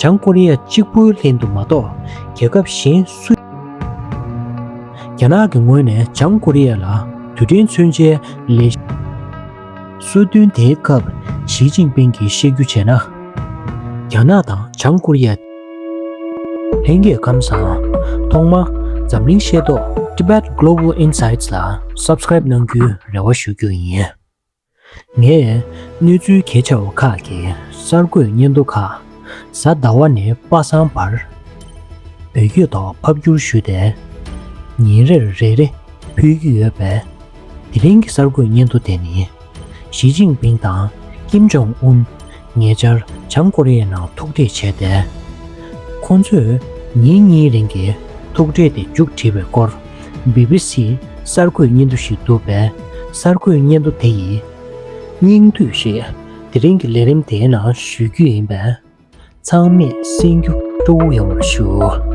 བྱང་ཀོ་རི་ཡ་གཅིག་པུའི་ལྷན་དུ་མ་གཏོགས་རྒྱལ་ཁབ་གཞན་སུ་ཡང་མེད། རྒྱ་ནག་གི་ངོས་ནས་བྱང་ཀོ་རི་ཡ་ལ་དུས་དྲན་མཚོན་ཆའི་ལས་གཞི་གསོལ་སྟོན་དེའི་སྐབས་ཞིས་ཅིན་ཕིང་གིས་བཤད་རྒྱུ་བྱས་ན། རྒྱ་ནག་དང་བྱང་ཀོ་རི་ཡ། ལྷན་རྒྱས་ཁམས་བཟང། ཐོག་མ། འཛམ་གླིང་ཤེས་རྟོགས Tibet Global Insights ལ Subscribe གནང་རྒྱུའི་རེ་བ་ཞུ་རྒྱུ་ཡིན། ངས་གནས་ཚུལ་གལ་ཆེ་བ་ཁག་གི་གསར་འགོད་སྙན་ཐོ་ཁག་གཟའ་ཟླ་བ་ནས་པ་སངས་བར་བོད་སྐད་ཐོག་ཕབ་བསྒྱུར་ཞུས་ཏེ་ཉིན་རེར་རེ་རེ་ཕུལ་གྱི་ཡོད་པས། དེ་རིང་གི་གསར་འགོད་སྙན་ཐོ་དེ་ནི་ཞི་ཅིང་ཕིང་དང་ཀེམ་ཇོང་ཨུན། ཉེ་ཆར་བྱང་ཀོ་རི་ཡའི་ནང་ཐུག་འཕྲད་བྱས་ཏེ། ཁོང་ཚོས་ཉིན་གཉིས་རིང་གི་ཐུག་འཕྲད་དེ་མཇུག་བསྒྲིལ་བའི་སྐོར་སྦི་སྦི་སིས་གསར་འགོད་སྙན་ཐོ་ཞིག་བསྡུར་བས་གསར་འགོད་སྙན་ཐོ་དེ་ཡི་སྙིང་བསྡུས་ཤིག་དེ་རིང་གི་ལས་རིམ་དེའི་ནང་ཞུ་རྒྱུ་ཡིན་པས་ཚང་མས་གསན་རྒྱུ་སྤྲོ་བོ་ཡོང་བར་ཞུ།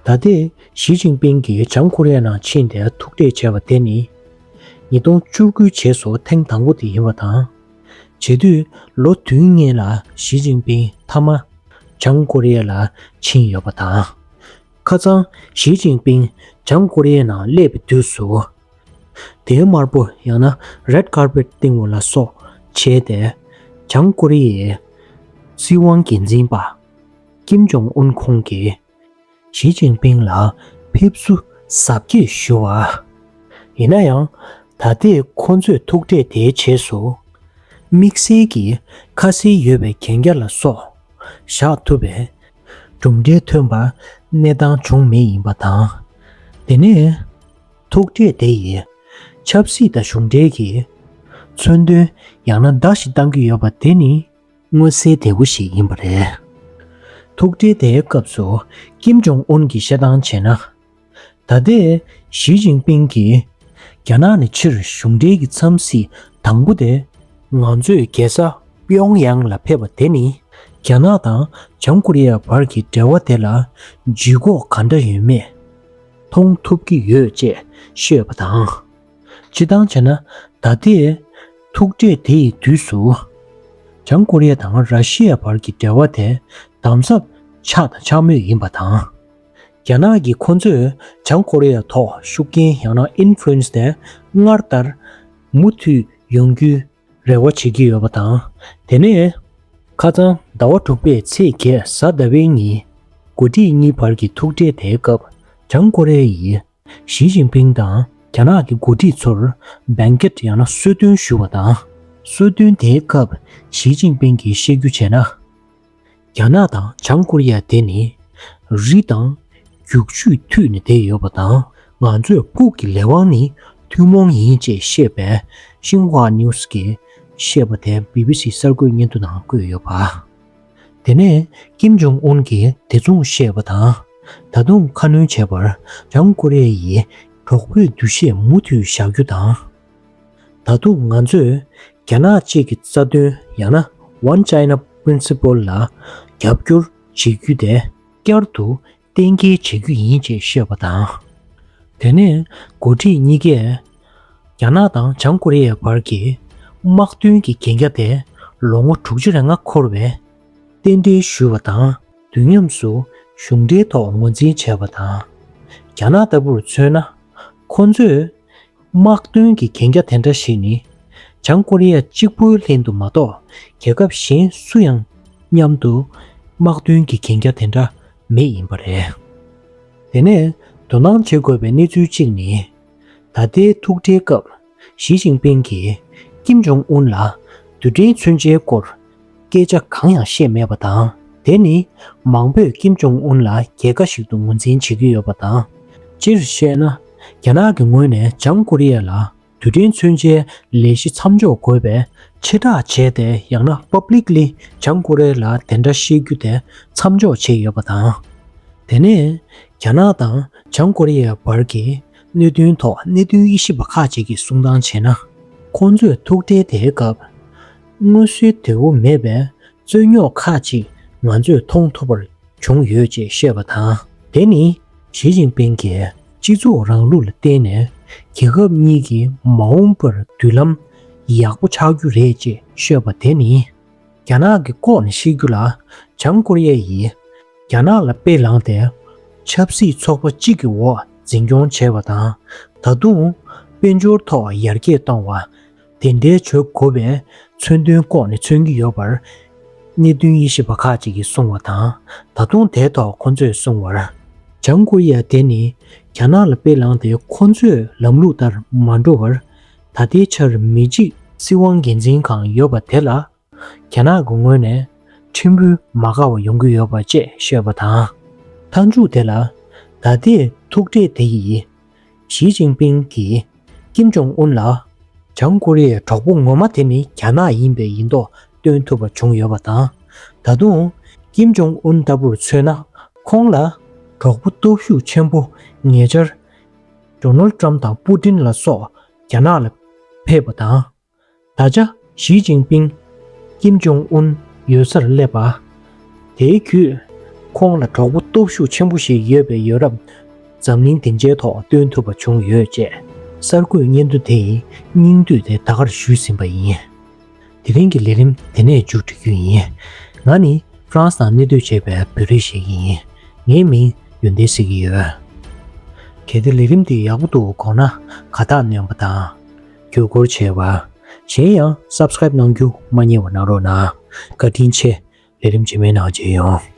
ད་ལྟའི་ཞི་ཅིང་པིང་གིས་བྱང་ཀོ་རི་ཡའི་ནང་ཕྱིན་ཏེ་ཐུག་འཕྲད་བྱས་པ་དེ་ནི། ཉིས་སྟོང་བཅུ་དགུའི་བྱེས་སུ་ཐེངས་དང་པོ་དེ་ཡིན་པ་དང། བྱེས་དུས་ལོ་དུས་ལྔའི་ལ་ཞི་ཅིན་ཕིན་མཐའ་མ་བྱང་ཀོ་རི་ཡའི་ལ་ཕྱིན་ཡོད་པ་དང། ཁ་ཙང་ཞི་ཅིན་ཕིན་བྱང་ཀོ་རི་ཡའི་ནང་སླེབས་པའི་དུས་སུ། དེའི་དམར་པོ་ཡང་ན Red Carpet བཏིང་བ་ལ་སོགས་བྱས་ཏེ། བྱང་ཀོ་རི་ཡའི་སྲིད་དབང་འགན་འཛིན་པ་ཀིམ་ཇོང་ཨུན་ཁོང་གིས། ཞི་ཅིན་ཕིང་ལ་ཕེབས་བསུ་གཟབ་རྒྱས་ཞུ་བ། ཡིན་ན་ཡང་ད་ལྟའི་ཁོ་ཚོས་ཐུག་འཕྲད་དེའི་རྗེས་སུ། དམིགས་བསལ་གྱི་ཁ་གསལ་ཡོད་པའི་གན་རྒྱ་ལ་སོགས་བཞག་ཐུབ་པའི་གྲུབ་འབྲས་ཐོན་པར་གནས་སྟངས་བྱུང་མེད་ཡིན་པ་དང། དེ་ནས་ཐུག་འཕྲད་དེ་ཡིས་ཆབ་སྲིད་དང་གཞུང་འབྲེལ་གྱི་མཚོན་དོན་ཡང་ན་བརྡ་ཞིག་གཏང་གི་ཡོད་པ་དེ་ནི། མངོན་གསལ་དོད་པོ་ཞིག་ཡིན་པ་རེད། ཐུག་འཕྲད་དེའི་སྐབས་སུ་ཀིམ་ཇོང་ཨུན་གྱིས་བཤད་སྟངས་བྱས་ན། ད་ལྟའི་ཞིས་ཅིན་ཕིང་གིས་རྒྱ་ནག་ནི་ཕྱིར་གཞུང་འབྲེལ་གྱི་འཚམས་གཟིགས་དང་པོ་དེ། ང་ཚོས་རྒྱལ་ས་པིཡོང་ཡཱང་ལ་ཕེབས་པ་དེ་ནི་རྒྱ་ནག་དང་བྱང་ཀོ་རི་ཡའི་བར་གྱི་འབྲེལ་བ་དེ་ལ་ལྗིད་ཁོག་ག་འདྲ་ཡོད་མེད་མཐོང་ཐུབ་ཀྱི་ཡོད་ཅེས་ཤོད་པ་དང། ཅི་བཏང་ཅེ་ན། ད་ལྟའི། ཐུག་འཕྲད་དེ་ཡི་དུས་སུ། བྱང་ཀོ་རི་ཡ་དང་ར་ཤི་ཡའི་བར་གྱི་འབྲེལ་བ་དེ་དམ་ཟབ་ཆགས་དང་ཆགས་མུས་ཡིན་པ་དང། རྒྱ་ནག་གིས་ཁོ་ཚོས་བྱང་ཀོ་རི་ཡ་ཐོག་ཤུགས་རྐྱེན་ཡང་ན Influence དེ་སྔར་ལྟར་མུ་མཐུད་ཡོང་རྒྱུའི་རེ་བ་བྱེད་ཀྱི་ཡོད་པ་དང། དེ་ནས། ཁ་སང་ཟླ་བ་དྲུག་པའི་ཚེས་བརྒྱད་གཟའ་ཟླ་བའི་ཉིན། མགོ་ཁྲིད་གཉིས་བར་གྱི་ཐུག་འཕྲད་དེའི་སྐབས་བྱང་ཀོ་རི་ཡའི་ཞི་ཅིན་ཕིང་དང་རྒྱ་ནག་གི་འགོ་ཁྲིད་ཚོར་སྦེན་ཀེར་ཡང་ན་གསོལ་སྟོན་ཞུ་བ་དང། གསོལ་སྟོན་དེའི་སྐབས་ཞི་ཅིན་ཕིང་གིས་བཤད་རྒྱུ་བྱས་ན། རྒྱ་ནག་དང་བྱང་ཀོ་རི་ཡ་དེ་ནི་རི་དང། རྒྱུག་ཆུས་མཐུད་ནས་བསྡད་ཡོད་པ་དང། ང་ཚོས་ཕུགས་ཀྱི་ལས་དབང་ནི་ཐུན་མོང་ཡིན་ཅེས་བཤད་པའི་ཤིན་ཧྭ་ནེའུ་སི་ཀེས་བཤད་པ་དེ་བྷི་བྷི་སི་གསར་འགོད་སྙན་ཐོ་ནང་བཀོད་ཡོད་པ། དེ་ནས་ཀེམ་ཇོང་ཨུན་གྱིས་དེ་མཚུངས་བཤད་པ་དང། ད་དུང་ཁ་སྣོན་བྱས་པར་བྱང་ཀོ་རེ་ཡིས་གྲོགས་པོས་འདུ་ཤེས་མུ་མཐུད་བཞག་རྒྱུ་དང། ད་དུང་ང་ཚོས་རྒྱ་ནག་གཅིག་གི་རྩ་དོན་ཡང་ན One China Principle ལ་རྒྱབ་སྐྱོར་བྱེད་རྒྱུ་དེ། བསྐྱར་དུ་གཏན་འཁེལ་བྱེད་རྒྱུ་ཡིན་ཅེས་བཤད་པ་དང། དེ་ནས་འགོ་ཁྲིད་གཉིས་ཀས་རྒྱ་ནག་དང་བྱང་ཀོ་རི་ཡའི་བར་གྱི་དམག་དོན་གྱི་གན་རྒྱ་དེ་ལོ་ངོ་དྲུག་ཅུ་རེ་ལྔ་འཁོར་བའི་རྟེན་འབྲེལ་ཞུས་པ་དང་དུས་མཉམ་སུ་གཞུང་འབྲེལ་ཐོག་ངོས་འཛིན་བྱས་པ་དང། རྒྱ་ནག་ལྟ་བུར་མཚོན་ན་ཁོ་ཚོས་དམག་དོན་གྱི་གན་རྒྱ་དེ་འདྲ་ཞིག་ནི་བྱང་ཀོ་རི་ཡ་གཅིག་པུའི་ལྷན་དུ་མ་གཏོགས་རྒྱལ་ཁབ་གཞན་སུ་ཡང་མཉམ་དུ་དམག་དོན་གྱི་གན་རྒྱ་དེ་འདྲ་མེད་ཡིན་པ་རེད། དེ་ནས་དོ་སྣང་བྱེད་དགོས་པའི་གནས་ཚུལ་གཅིག་ནི། ད་ལྟའི་ཐུག་འཕྲད་སྐབས་ཞི་ཅིང་ཕིང་གིས་ཀིམ་ཇོང་ཨུན་ལ་དུས་དྲན་མཚོན་ཆའི་སྐོར་སྐད་ཆ་གང་ཡང་བཤད་མེད་པ་དང་དེ་ནི་མང་པོས་ཀིམ་ཇོང་ཨུན་ལ་རྒྱལ་ཁ་ཞིག་ཏུ་ངོས་འཛིན་བྱེད་ཀྱི་ཡོད་པ་དང། སྤྱིར་བཤད་ན། རྒྱ་ནག་གི་ངོས་ནས་བྱང་ཀོ་རི་ཡ་ལ་དུས་དྲན་མཚོན་ཆའི་ལས་གཞི་མཚམས་འཇོག་དགོས་པའི་ཕྱིར་བསྒྲགས་བྱས་ཏེ་ཡང་ན Publicly བྱང་ཀོ་རེ་ལ་དེ་འདྲ་བཤད་རྒྱུ་དེ་མཚམས་འཇོག་བྱས་ཡོད་པ་དང། དེ་ནས་རྒྱ་ནག་དང་བྱང་ཀོ་རི་ཡའི་བར་གྱི་གནད་དོན་ཐོག་གནད་དོན་དབྱེ་ཞིབ་པ་ཁག་ཅིག་གིས་གསུང་སྟངས་བྱས་ན། ཁོང་ཚོས་ཐུག་འཕྲད་དེའི་སྐབས། སྔོན་བསུའི་དེ་བོ་མེད་པའི་རྩོད་རྙོག་ཁག་ཅིག་ང་ཚོས་མཐོང་ཐུབ་པར་བྱུང་ཡོད་ཅེས་བཤད་པ་དང། དེ་ནི་ཞི་ཅིན་ཕིང་གིས་སྤྱི་ཚོགས་རང་ལུགས་ལ་བརྟེན་ནས་རྒྱལ་ཁབ་གཉིས་ཀྱི་མ་འོངས་པར་མདུན་ལམ་ཡག་པོ་ཆགས་རྒྱུ་རེད་ཅེས་ཤོད་པ་དེ་ནི་རྒྱ་ནག་གི་ལྐོག་ནས་ཤི་རྒྱུ་ལ་བྱང་ཀོ་རི་ཡ་ཡིས་རྒྱ་ནག་ལ་དཔེ་བླངས་ཏེ་ཆབ་སྲིད་ཚོགས་པ་གཅིག་གི་འོག་འཛིན་སྐྱོང་བྱས་པ་དང་ད་དུང་དཔལ་འབྱོར་ཐོག་ཡར་རྒྱས་བཏང་བ། དེ་འདྲའི་ཆོས་གོ་བས་མཚོན་དོན་ལྐོག་ནས་མཚོན་གྱི་ཡོད་པར། གནད་བསྟུན་ཡེ་ཤེས་པ་ཁ་ཅིག་གིས་གསུང་བ་དང་ད་དུང་དེའི་ཐོག་ཁོ་ཚོས་གསུང་བར། བྱང་ཀོ་རི་ཡ་དེ་ནི་རྒྱ་ནག་ལ་དཔེ་བླངས་ཏེ་ཁོ་ཚོས་ལམ་ལུགས་ལྟར་མ་འགྲོ་བར། ད་ལྟའི་ཆར་མི་འཇིགས། སྲིད་དབང་སྒེར་འཛིན་གང་ཡོད་པ་དེ་ལ་རྒྱ་ནག་གི་ངོས་ནས་ཁྲིམས་དཔོན་མ་དགའ་བ་ཡོང་གི་ཡོད་པ་བཅས་ཤོད་པ་དང། མཐའ་མཇུག་དེ་ལ་ད་ལྟའི་ཐུག་འཕྲད་དེ་ཡིས་ཞིས་ཅིན་ཕིང་གིས་ཀིམ་ཇོང་ཨུན་ལ། བྱང་ཀོ་རི་ཡའི་གྲོགས་པོ་ངོ་མ་དེ་ནི་རྒྱ་ནག་ཡིན་པའི་ཡིན་མདོག་སྟོན་ཐུབ་པ་བྱུང་ཡོད་པ་དང། ད་དུང་ཀིམ་ཇོང་ཨུན་ལྟ་བུར་མཚོན་ན་ཁོང་ལ་གྲོགས་པོ་སྟོབས་ཤུགས་ཆེན་པོ་ཉེ་ཆར། Donald Trump དང Putin ལ་སོགས་རྒྱ་ནག་ལ་ཕེབས་པ་དང། ད་ཆ་ཞིས་ཅིན་པིང། ཀིམ་ཇོང་ཨུན་ཡོད་སར་སླེབས་པ། དེའི་བརྒྱུད། ཁོང་ལ་གྲོགས་པོ་སྟོབས་ཤུགས་ཆེན་པོ་ཞིག་ཡོད་པའི་ཡོ་རབ། འཛམ་གླིང་སྡིངས་ཆའི་ཐོག་སྟོན་ཐུབ་པ་བྱུང་ཡོད་ཅེས་གསར་འགོད་སྙན་ཐོ་དེ་སྙིང་བསྡུས་ཏེ་ད་གར་ཞུས་ཟིན་པ་ཡིན། དེ་རིང་གི་ལས་རིམ་དེ་ནས་མཇུག་སྒྲིལ་རྒྱུ་ཡིན། ང་ནི France ནང་གནས་སྡོད་བྱེད་པའི་བོད་རིགས་ཤིག་ཡིན། ངའི་མིང་ཡོན་ཏན་ཟེར་གྱི་ཡོད། གལ་ཏེ་ལས་རིམ་འདི་ཡག་པོ་འདུག་དགོངས་ན་ག་དག་ནོན་པ་དང། བརྒྱུད་སྐུར་བྱས་པ། གཞན་ཡང Subscribe གནང་རྒྱུ་མ་རྙེད་བ་གནང་རོགས་གནང། བཀའ་དྲིན་ཆེ། ལས་རིམ་རྗེས་མའི་ནང་མཇལ་ཡོང།